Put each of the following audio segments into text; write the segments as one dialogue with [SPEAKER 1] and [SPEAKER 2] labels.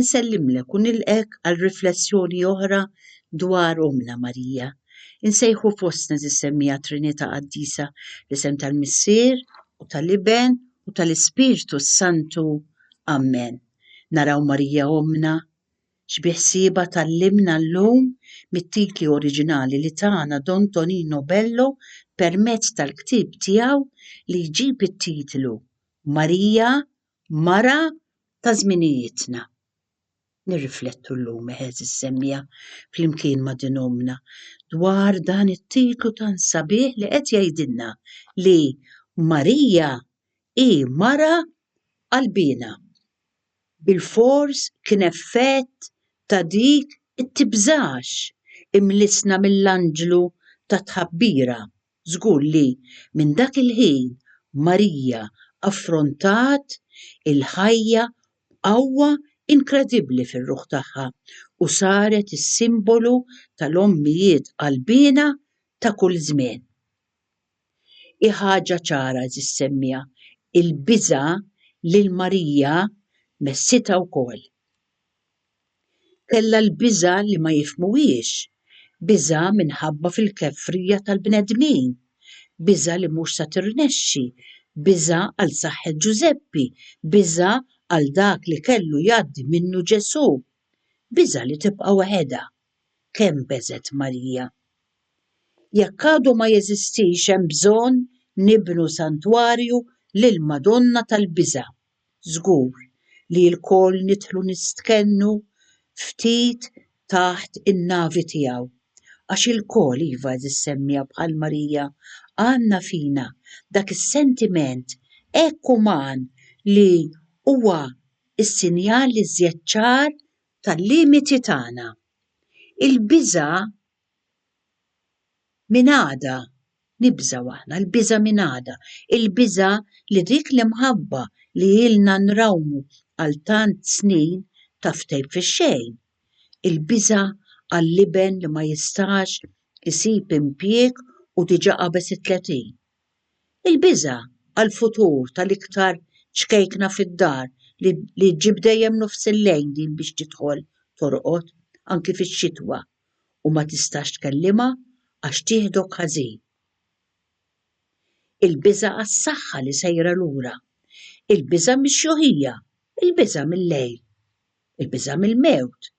[SPEAKER 1] Insellimlek u nilqgħek għal riflessjoni oħra dwar Ommna Marija. Insejħu fostna żis-semmiegħa Trinità Qaddisa, l-isem tal-Missier u tal-Iben u tal-Ispirtu s-Santu. Ammen. Naraw Marija Ommna x'biħsiebha tgħallimna llum mit-titli oriġinali li tana Don Tonino Bello permezz tal-ktieb tiegħu li jġib it-titlu Marija mara ta' żminijietna. Nirriflettu llum, għeżież semmiegħa, flimkien ma' din ommna, dwar dan it-titlu tant sabiħ li qed jgħidilna li Marija hi mara qalbiena. Bilfors kien effett ta' dik it-tibżax imlissna mill-anġlu tat-tħabbira Żgur li minn dak il-ħin Marija affrontat il-ħajja b'qawwa inkredibbli fir-ruħ tagħha u saret is-simbolu tal-ommijiet qalbiena ta' kull żmien. Hi ħaġa ċara, għeżież semmiegħa, il-biża' lil Marija messitha wkoll. Kellha l-biża' li ma jifhmuhiex, biża' minħabba fil-kefrija tal-bnedmin, biża' li mhux se tirnexxi, biża' għal saħħet Ġużeppi, biża' għal dak li kellu jgħaddi minnu Ġesù, biża' li tibqa' waħedha. Kemm beżgħet Marija! Jekk għadu ma jeżistix hemm bżonn nibnu santwarju lill-Madonna tal-Biża'. żgur li lkoll nidħlu nistkennu ftit taħt in-navi tiegħu, għax ilkoll, iva għeżież semmiegħa bħal Marija, għandna fina dak is-sentiment hekk uman li huwa s-sinjal l-iżjed ċar tal-limiti tagħna. Il-biża' Minn għada nibżgħu aħna, l-biża' minn għada, il-biża' li dik l-imħabba li ilna nrawmu għal tant snin taf tgħib fix-xejn, il-biża' għall-iben li ma jistax isib impjieg u diġà qabeż it-tletin, il-biża' għall-futur tal-iktar ċkejkna fid-dar li ġġib dejjem nofsillejl din biex tidħol torqod, anki fix-xitwa. u ma tistax tkellimha għax tieħdok ħażin. Il-biża' għas-saħħa li sejra lura, il-biża' mix-xjuħija, il-biża' mil-lejl, il-biża' mill-mewt.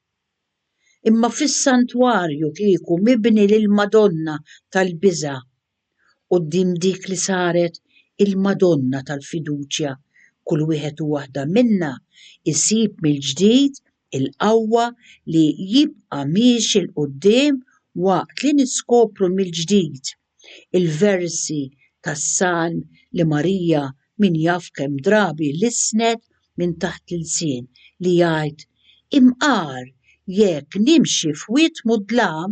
[SPEAKER 1] Imma fis-santwarju kieku mibni lill-Madonna tal-Biża' quddiem dik li saret il-Madonna tal-Fiduċja, kull wieħed u waħda minna jsib mill-ġdid il-qawwa li jibqa' miexi 'l quddiem waqt li niskopru mill-ġdid il-versi tas-Salm li Marija min jaf kemm drabi lissnet minn taħt l-ilsien li jgħid, Imqar, jekk nimxi f'wied mudlam,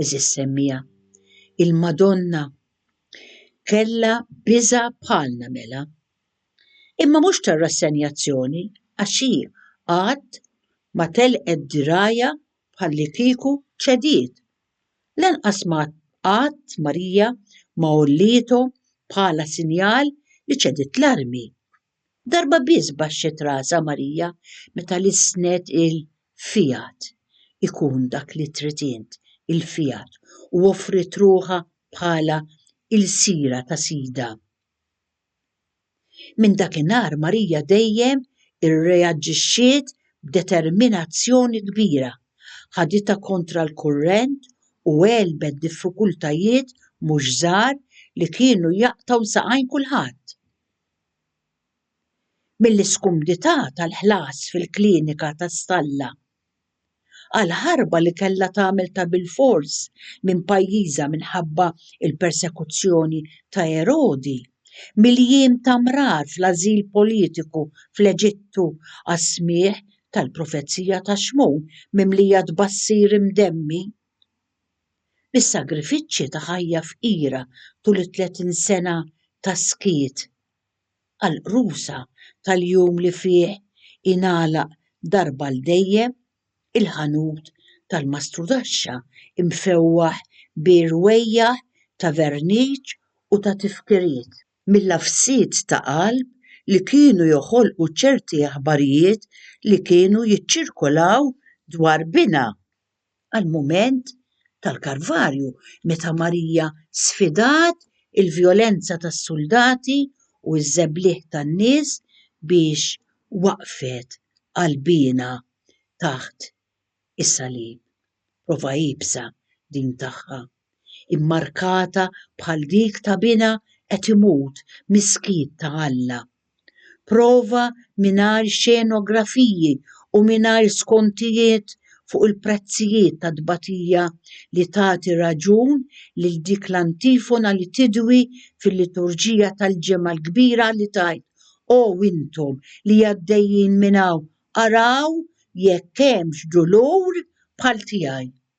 [SPEAKER 1] Eżis semmija, il-Madonna kella biża bħalna mela. Imma mhux tar-rassenjazzjoni għax hi qatt ma telqet dirgħajha bħalli kieku ċediet Lanqas ma qatt Marija ma għollietu bħala sinjal li ċediet l-armi. Darba biss baxxet rasha Marija meta lissnet il-Fiat, ikun dak li trid int, il-Fiat, u offriet ruħha bħala ilsira ta' Sidha. Minn dakinhar Marija dejjem irreaġixxiet b'determinazzjoni kbira, ħaditha kontra l-kurrent u għelbet diffikultajiet mhux żgħar li kienu jaqtgħu saqajn kulħadd. Mill-iskumdità tal-ħlas fil-klinika ta' Stalla. għal ħarba li kellha tagħmel ta' bilfors minn pajjiżha minħabba l-persekuzzjoni ta' Erodi, mill-jiem ta' mrar fl-ażil politiku fl-Eġittu għas-smigħ tal-profezija ta' Xmun mimlija tbassir imdemmi, mis-sagrifiċċji ta' ħajja fqira tul it-tletin sena ta' skiet. għall-qrusa tal-jum li fih ingħalaq darba għal dejjem il-ħanut tal-mastrudaxxa mfewwaħ bi rwejjaħ ta' verniċ u ta' tifkiriet mill-għafsiet ta' qalb li kienu joħolqu ċerti aħbarijiet li kienu jiċċirkolaw dwar binha għall-mument tal-Kalvarju meta Marija sfidat il-vjolenza tas-suldati u ż-żebliħ tan-nies biex waqqfet qalbiena taħt is-salib. Prova iebsa din tagħha. immarkata bħal dik ta' binha qed imut mis-skiet ta' Alla. Prova mingħajr xenografiji u mingħajr skontijiet fuq il-prezzijiet ta' tbatija li tagħti raġun lil dik l-antifona li tidwi fil-liturġija tal-Ġimgħa l-Kbira li tgħid, O intom li għaddejjin minn hawn, araw jekk hemmx dulur bħal tiegħi.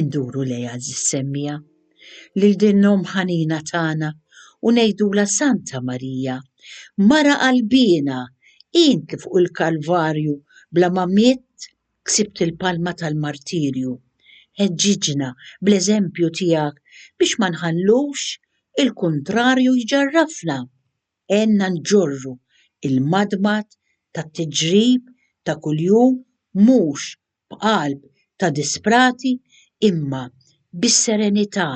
[SPEAKER 1] Induru lejha żis-semmija lil din l-Omm ħanina tagħna u ngħidulha Santa Marija, Mara qalbiena, int li fuq il-Kalvarju bla ma mitt ksibt il-palma tal-martirju, ħeġġiġna bl-eżempju tiegħek biex ma nħallux il-kuntrarju jġarrafna. għenna nġorru l-madmad tat-tiġrib ta' kuljum mhux b'qalb ta' disprati imma bis-serenità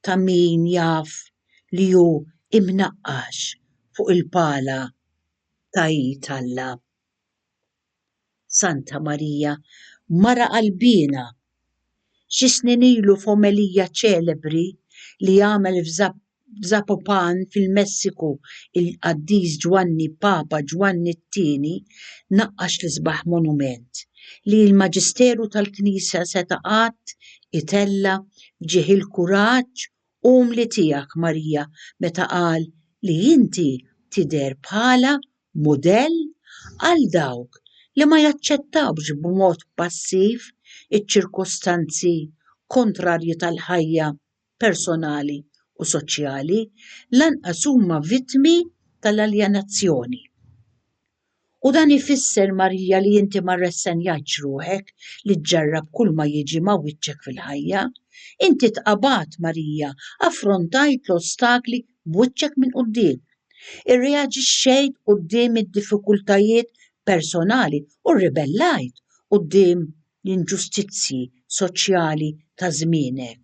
[SPEAKER 1] ta' min jaf li hu mnaqqax fuq il-pala ta' id Alla. Santa Marija, mara qalbiena! Xi snin ilu f'omelija ċelebri li għamel f'Zapopan fil-Messiku il-Qaddis Ġwanni Papa Ġwanni t-Tieni naqqax l-isbaħ monument li l-Maġisteru tal-Knisja seta' qatt itella' f'ġieħ il-kuraġġ umli tiegħek Marija meta qal li inti tidher bħala mudell għal dawk li ma jaċċettawx b'mod passiv iċ-ċirkustanzi kontrarji tal-ħajja personali u soċjali, lanqas huma vittmi tal-aljenazzjoni. U dan ifisser, Marija, li inti ma rressenjajtx ruħek li ġġarrab kulma jiġi ma' wiċċek fil-ħajja. Inti tqabgħat, Marija, affrontajt l-ostakli b'wiċċek minn quddiem, Irreaġixxejt quddiem id-diffikultajiet personali u rribellajt quddiem l-inġustizzji soċjali ta' żmienek.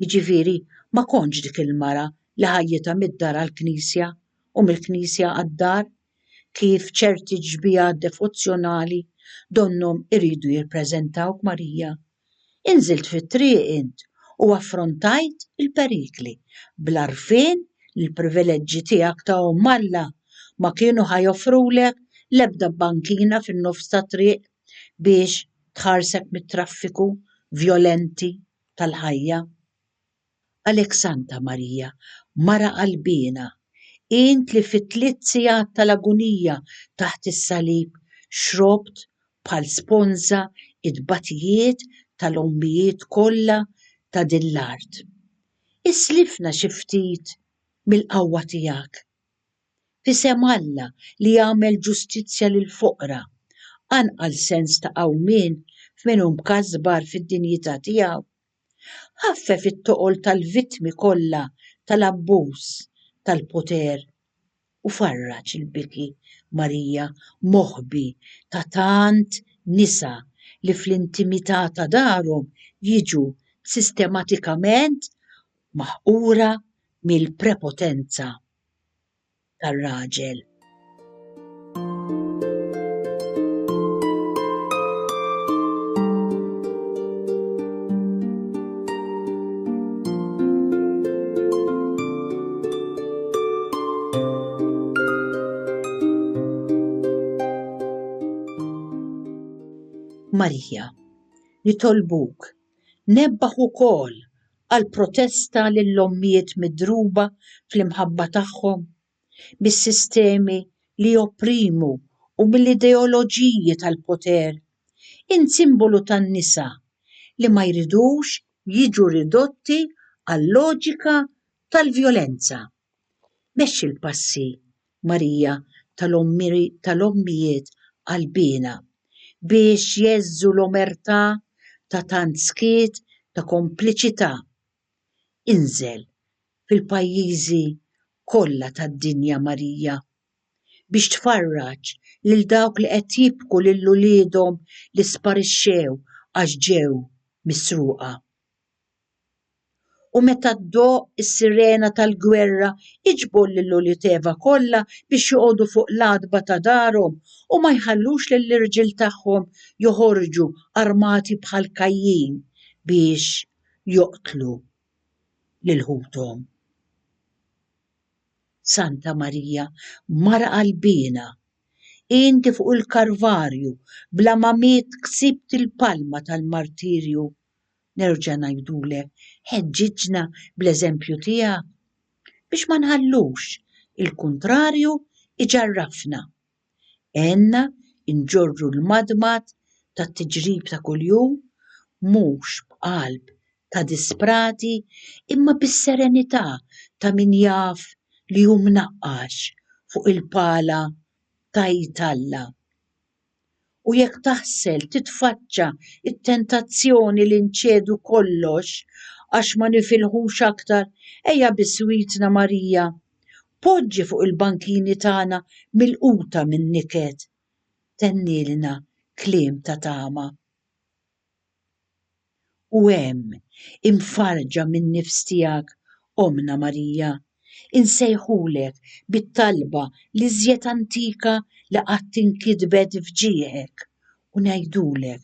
[SPEAKER 1] Jiġifieri, ma kontx dik il-mara li ħajjitha mid-dar għall-knisja u mill-knisja għad-dar. kif ċerti xbiehat devozzjonali donnhom iridu jirpreżentawk Marija, inżilt fit-triq int u affrontajt il-perikli bl-għarfien li l-privileġġi tiegħek ta' Omm Alla ma kienu ħa joffrulek l-ebda bankina fin-nofs tat-triq biex tħarsek mit-traffiku vjolenti tal-ħajja. Għalhekk Santa Marija, Mara qalbiena, int li fit-tliet sigħat tal-agunija taħt is-salib xrobt bħal sponża t-tbatijiet tal-ommijiet kollha ta' din l-art, islifna xi ftit mill-qawwa tiegħek. F'isem Alla li jagħmel ġustizzja lill-foqra, qanqal sens ta' qawmien f'min hu mkasbar fid-dinjità tiegħu. Ħaffef it-toqol tal-vittmi kollha tal-abbuż tal-poter u farraġ il-biki, Marija, moħbi ta' tant nisa li fl-intimità ta' darhom jiġu sistematikament maħqura mill-prepotenza. tar-raġel. Marija, nitolbuk, nebbaħ ukoll għal protesta lill-ommijiet midruba fl-imħabba tagħhom mis-sistemi li jopprimu u mill-ideoloġiji tal-poter, int simbolu tan-nisa li ma jridux jiġu ridotti għal loġika tal-vjolenza. Mexxi l-passi Marija tal-Ommijiet Qalbiena, biex jgħeżżu l-omertà ta' tant skiet ta' kompliċità, inżel fil-pajjiżi kollha tad-dinja Marija, biex tfarraġ lil dawk li qed jibku lil uliedhom li sparixxew għax ġew misruqa. U meta ddoqq is-sirena tal-gwerra iġbor lil uliedeva kollha biex joqogħdu fuq l-għatba ta' darhom u ma jħallux lill-irġiel tagħhom joħorġu armati bħal Kajjin biex joqtlu lil ħuthom. Santa Marija, Mara qalbiena, inti fuq il-Karvarju bla ma miet ksibt il-palma tal-martirju nerġa' ngħidulek, ħeġġiġna bl-eżempju tiegħek, biex ma nħallux il-kuntrarju jġarrafna. Għenna nġorru l-madmad tat-tiġrib ta' kuljum, mhux b'qalb ta' disprati, imma bis-serenità ta' min jaf li hu mnaqqax fuq il-pala ta' id Alla. u jekk taħsel titfaċċa t-tentazzjoni li nċedu kollox għax ma nifilħux aktar, ejja biswitna Marija. Poġġi fuq il-bankini tagħna milquta min-niket. Tennielna kliem ta' tama. U hemm, imfarrġa min-nifs tiegħek, Ommna Marija, insejħulek bit-talba l-iżjed antika li qatt inkitbet f'ġieħek u ngħidulek,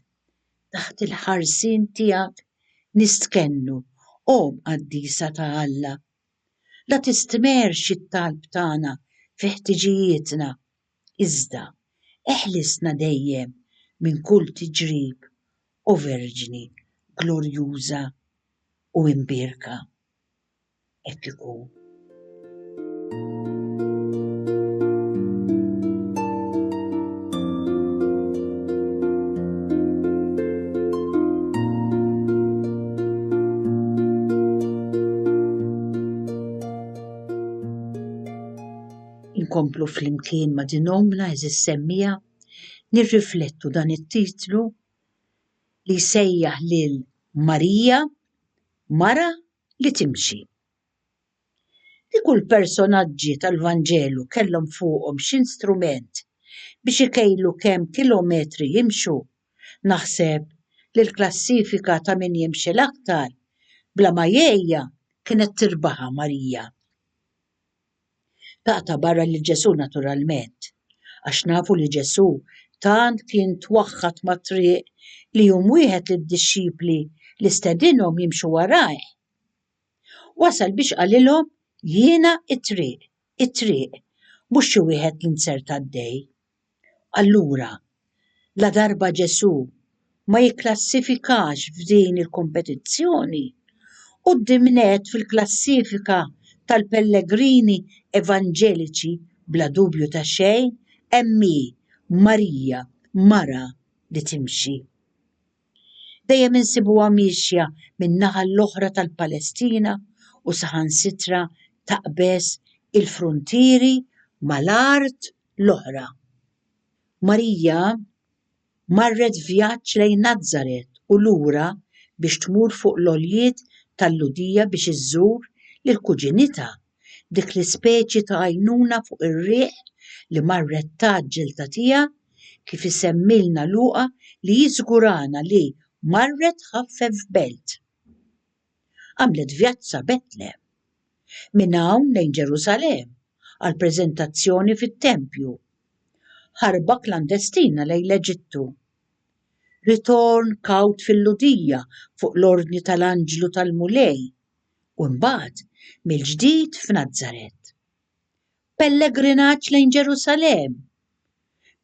[SPEAKER 1] Taħt il-ħarsien tiegħek nistkennu, O Qaddisa ta' Alla. La tistmerrx it-talb tagħna fi ħtiġijietna, iżda eħlisna dejjem minn kull tiġrib, O Verġni glorjuża u imbierka. Hekk ikun. Inkomplu flimkien ma' din ommna eżis semmija nirriflettu dan it-titlu li jsejjaħ lil Marija mara li timxi. Kieku l-personaġġi tal-Vanġelu kellhom fuqhom xi strument biex ikejlu kemm kilometri jimxu, naħseb li l-klassifika ta' min jimxi l-aktar bla ma jgħejja kienet tirbaħha Marija. Taqta' barra lil Ġesù naturalment, għax nafu li Ġesù tant kien twaħħad mat-triq li jum wieħed lid-dixxipli li stedinhom jimxu warajh, wasal biex qalilhom, Jiena t-triq, it-triq, mhux xi wieħed li nsertgħaddej. Allura, ladarba Ġesù ma jikklassifikax f'din il-kompetizzjoni, quddiem nett fil-klassifika tal-pellegrini evanġeliċi bla dubju ta' xejn hemm hi, Marija, mara li timxi. Dejjem insibuha miexja min-naħa l-oħra tal-Palestina u saħansitra taqbeż il-fruntieri mal-art l-oħra. Marija marret vjaġġ lejn Nazaret u lura biex tmur fuq l-għoljiet tal-Lhudija biex iżżur lil kuġinitha, dik l-ispeċi ta' għajnuna fuq ir-riħ li marret tgħaġġel tagħtiha, kif isemmilna Luqa li jiżgurana li marret tħaffef belt. għamlet vjaġġ sa Betlehem. Minn hawn lejn Ġerusalemm għal preżentazzjoni fit-tempju. Ħarba klandestina lejn l-Eġittu. Ritorn kawt fil-Lhudija fuq l-ordni tal-anġlu tal-Mulej u mbagħad mill-ġdid f'Nazaret. Pellegrinaġġ lejn Ġerusalemm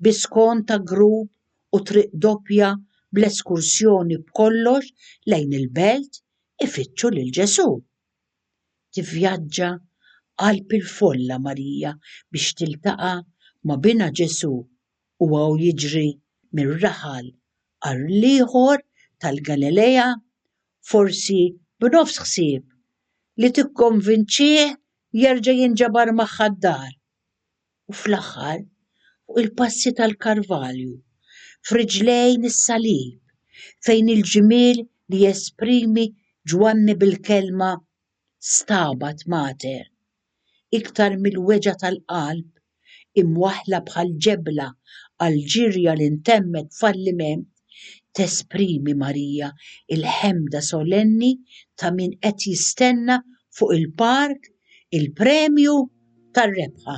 [SPEAKER 1] bi skont ta' grupp u triq doppja bl-eskursjoni b'kollox lejn il-belt ifittxu lil Ġesù. Tivvjaġġa qalb il-folla Marija biex tiltaqa' ma' Binha Ġesù u hawn jiġri minn raħal għal ieħor tal-Galilea forsi b'nofs ħsieb, li tikkonvinċih jerġa' jinġabar magħha d-dar. U fl-aħħar, fuq il-passi tal-Karvalju, f'riġlejn is-Salib, fejn il-ġmiel li jesprimi Ġwanni bil-kelma Stabat Mater, iktar mill-weġgħa tal-qalb imwaħħla bħal ġebla għall-ġirja li ntemmet b'falliment, tesprimi Marija l-ħemda solenni ta' min qed jistenna fuq il-palk il-premju tar-rebħa.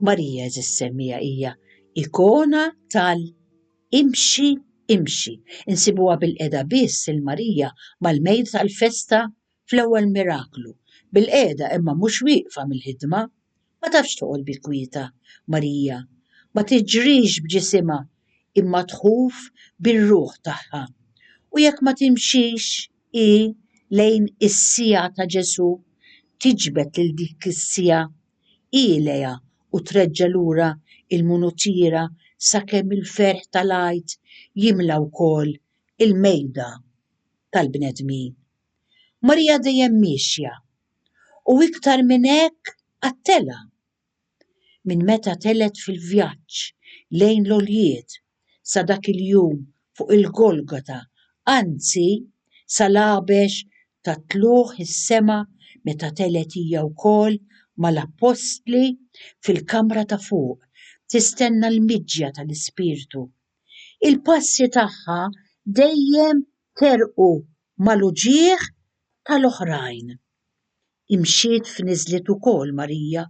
[SPEAKER 1] Marija żissemmija hija ikona tal-imxi imxi. Insibuha bil-qeda biss il-Marija mal-mejd tal-festa fl-ewwel miraklu. Bil-qeda imma mhux wieqfa mill-ħidma, Ma tafx toqgħod bil-kwieta, Marija, ma tiġrix b'ġisimha imma tħuf bir-ruħ tagħha. U jekk ma timxix hi lejn is-siegħa ta' Ġesù, tiġbed lil dik is-siegħa hi lejha u treġġa' lura l-munutiera sakemm il-ferħ tal-Għid jimla wkoll il-mejda tal-bnedmin. Marija dejjem miexja, u iktar minn hekk għat-telgħa. Minn meta telgħet fil-vjaġġ lejn l-għoljiet sa dak il-jum fuq il-Golgota, anzi, sal-għabex tat-tlugħ is-sema meta telgħet hija wkoll mal-appostli fil-kamra ta' fuq tistenna l-miġja tal-Ispirtu Il-passi tagħha dejjem terqu mal-uġigħ tal-oħrajn. Imxiet f'niżliet ukoll Marija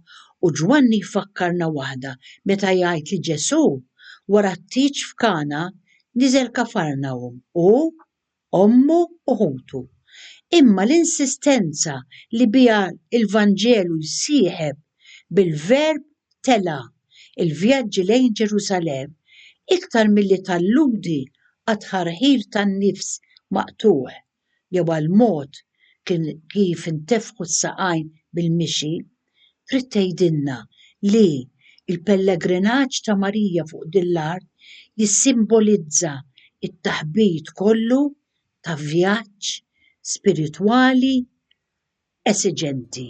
[SPEAKER 1] u Ġwanni jfakkarna waħda meta jgħid li Ġesù wara t-tieġ f'Kana niżel Kafarnahum u, ommu u ħutu. Imma l-insistenza li biha l-Vanġelu jsieħeb bil-verb tela' l-vjaġġi lejn Ġerusalemm iktar milli talludi għat-tħarħir tan-nifs maqtugħ jew għall-mod kif intefħu s-saqajn bil-mixi, Trid tgħidilna li l-pellegrinaġġ ta' Marija fuq din l-art jissimbolizza t-taħbit kollu ta' vjaġġ spiritwali esiġenti.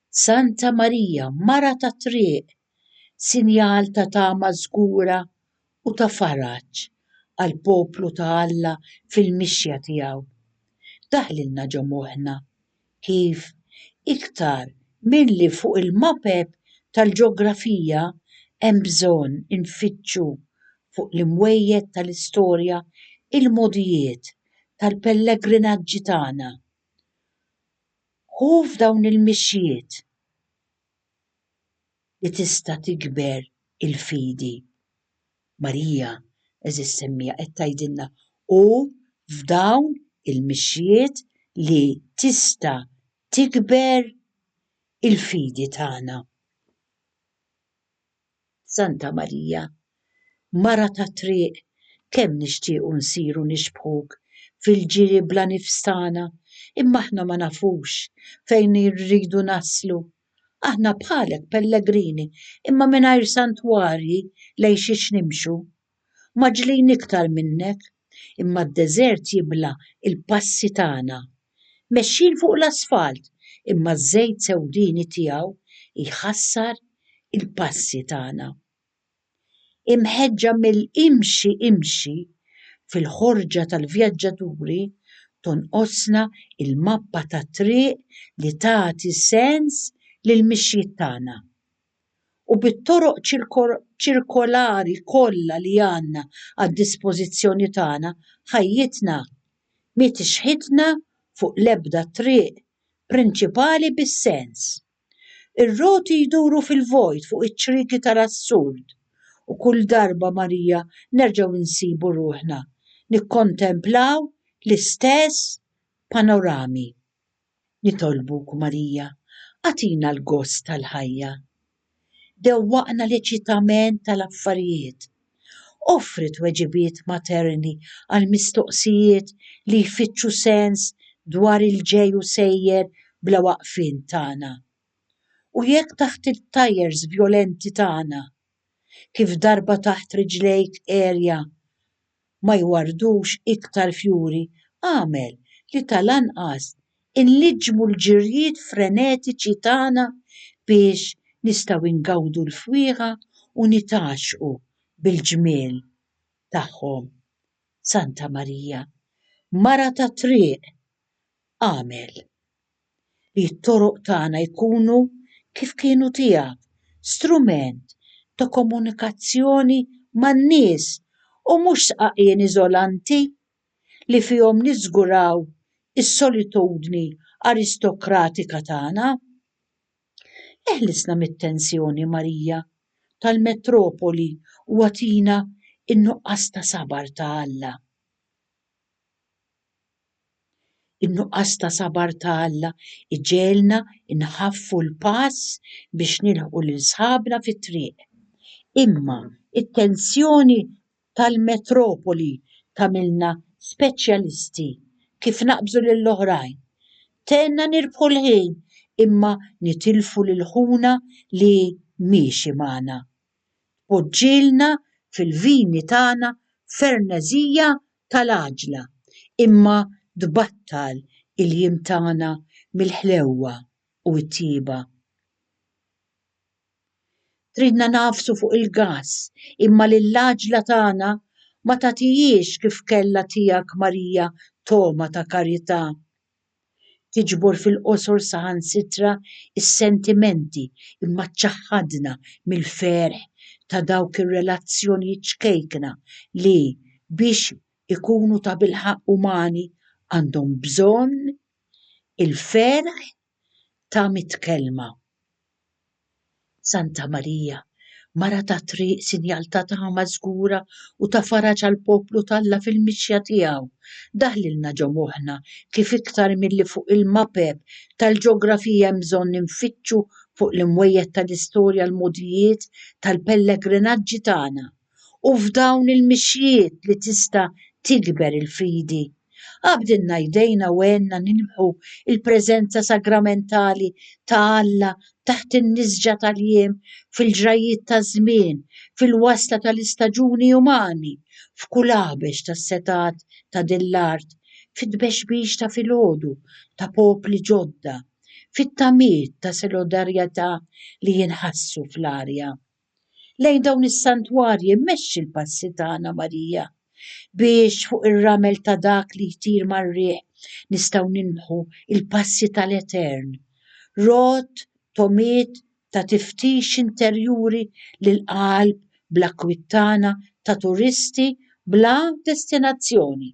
[SPEAKER 1] Santa Marija, mara tat-triq, sinjal ta' tama żgura u ta' faraġ għall-poplu ta' Alla fil-mixja tiegħu, daħlilna ġo moħħna kif iktar milli fuq il-mapep tal-ġeografija hemm bżonn infittxu fuq l-imwejjed tal-istorja l-mogħdijiet tal-pellegrinaġġi tagħna. Hu f'dawn il-mixjiet li tista' tikber il-fidi. Marija, għeżież semmija, qed tgħidilna, hu f'dawn il-mixjiet li tista' tikber il-fidi tagħna. Santa Marija, Mara tat-Triq, kemm nixtiequ nsiru nixbħuk fil-ġiri bla nifs tagħna, imma aħna ma nafux fejn irridu naslu. Aħna bħalek pellegrini, imma mingħajr santwarji lejn xiex nimxu. mgħaġġlin iktar minnek, imma d-deżert jibla' l-passi tagħna. Mexjin fuq l-asfalt, imma ż-żejt sewdieni tiegħu jħassar il-passi tagħna. Imħeġġa mill-imxi imxi, fil-ħorġa tal-vjaġġaturi tonqosna l-mappa tat-triq li tagħti sens lill-mixjiet tagħna. u bit-toroq ċirkolari kollha li għandna għad-dispożizzjoni tagħna, ħajjitna m'hi tixħitna fuq l-ebda triq prinċipali bis-sens. Ir-roti jduru fil-vojt fuq iċ-ċrieki tal-assurd, u kull darba Marija nerġgħu nsibu ruħna nikkontemplaw l-istess panorami. Nitolbuk, Marija, agħtina l-gost tal-ħajja. Dewwaqna l-eċitament tal-affarijiet. Offri tweġibiet materni għall-mistoqsijiet li jfittxu sens dwar il-ġej u sejjer bla waqfien tagħna. U jekk taħt it-tyres vjolenti tagħna, kif darba taħt riġlejk għerja ma jwarrdux iktar fjuri għamel li tal-anqas inliġġmu l-ġirjiet frenetiċi tagħna biex nistgħu ingawdu l-fwieħa u nitgħaxxqu bil-ġmiel tagħhom. Santa Marija, Mara tat-Triq, għamel. li t-toroq tagħna jkunu kif kienu tiegħek, strument ta' komunikazzjoni man-nies u mhux sqaqien iżolanti li fihom niżguraw is-solitudni aristokratika tagħna. Eħlisna mit-tensjoni, Marija, tal-metropoli u agħtina n-nuqqas ta' sabar ta' Alla. In-nuqqas ta' sabar ta' Alla jġegħelna nħaffu l-pass biex nilħqu lil sħabna fit-triq. Imma t-tensjoni tal-metropoli tagħmilna speċjalisti kif naqbżu lil oħrajn. Tenna nirbħu l-ħin imma nitilfu lil ħuna li miexi magħna. Tpoġġilna fil-vini tagħna ferneżija tal-għaġla, imma tbattal il-jiem tagħna mill-ħlewwa u t-tjieba. Tridna ngħafsu fuq il-gass, imma lill-għaġla tagħna ma tagħtihiex kif kellha tiegħek Marija togħma ta' karità tiġbor fil-qosor saħansitra s-sentimenti mmaċċaħħadna mill-ferħ ta' dawk ir-relazzjonijiet ċkejkna li, biex ikunu tabilħaqq umani, għandhom bżonn il-ferħ ta' mitt kelma. Santa Marija, Mara tat-Triq, sinjal ta' tama żgura u ta' faraġ għall-poplu t'Alla fil-mixja tiegħu, daħlilna ġo moħħna kif iktar milli fuq il-mapep tal-ġeografija hemm bżonn infittxu fuq l-imwejjed tal-istorja l-mogħdijiet tal-pellegrinaġġi tagħna. u f'dawn il-mixjiet li tista' tikber il-fidi. Qabdilna jdejna u għenna nilmħu l-preżenza sagramentali ta' Alla taħt in-nisġa tal-jiem, fil-ġrajjiet taż-żmien, fil-wasla tal-istaġuni umani, f'kull għabex tas-setgħat ta' din l-art, fit-tbexbix ta' filgħodu ta' popli ġodda, fit-tamiet ta' solidarjetà li jinħassu fl-arja. lejn dawn is-santwarji mmexxi l-passi tagħna Marija biex fuq ir-ramel ta' dak li jtir mar-riħ nistgħu nilmħu l-passi tal-Etern. Rot, tomiet ta' tiftix interjuri lill-qalb bl-akkwit tagħna ta' turisti bla destinazzjoni,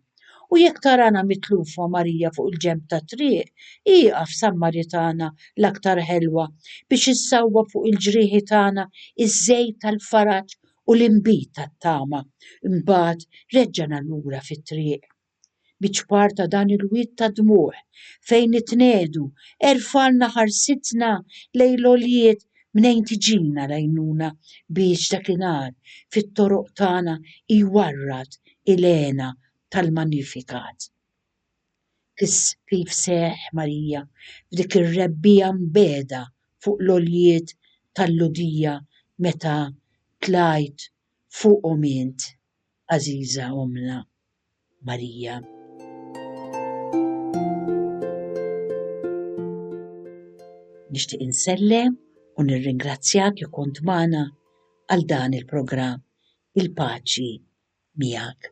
[SPEAKER 1] u jekk tarana mitlufa Marija fuq il-ġenb tat-triq, ieqaf Sammaritana l-aktar ħelwa biex issawwab fuq il-ġrieħi tagħna ż-żejt tal-faraġ u l-inbid tat-tama, imbagħad reġġana lura fit-triq. biċ-ċpar ta' dan il-wied ta' dmugħ fejn nitnegħdu, erfgħalna ħarsitna lejn l-għoljiet mnejn tiġina l-għajnuna biex dakinhar fit-toroq tagħna jwarrad il-hena tal-Magnificat. Kif seħħ Marija f'dik ir-rebbiegħa mbiegħda fuq l-għoljiet tal-Lhudija meta tlajt fuqhom int, għażiża Ommna? Marija. Nixtieq insellem u nirringrazzjak li kont magħna għal dan il-programm il-paċi miegħek.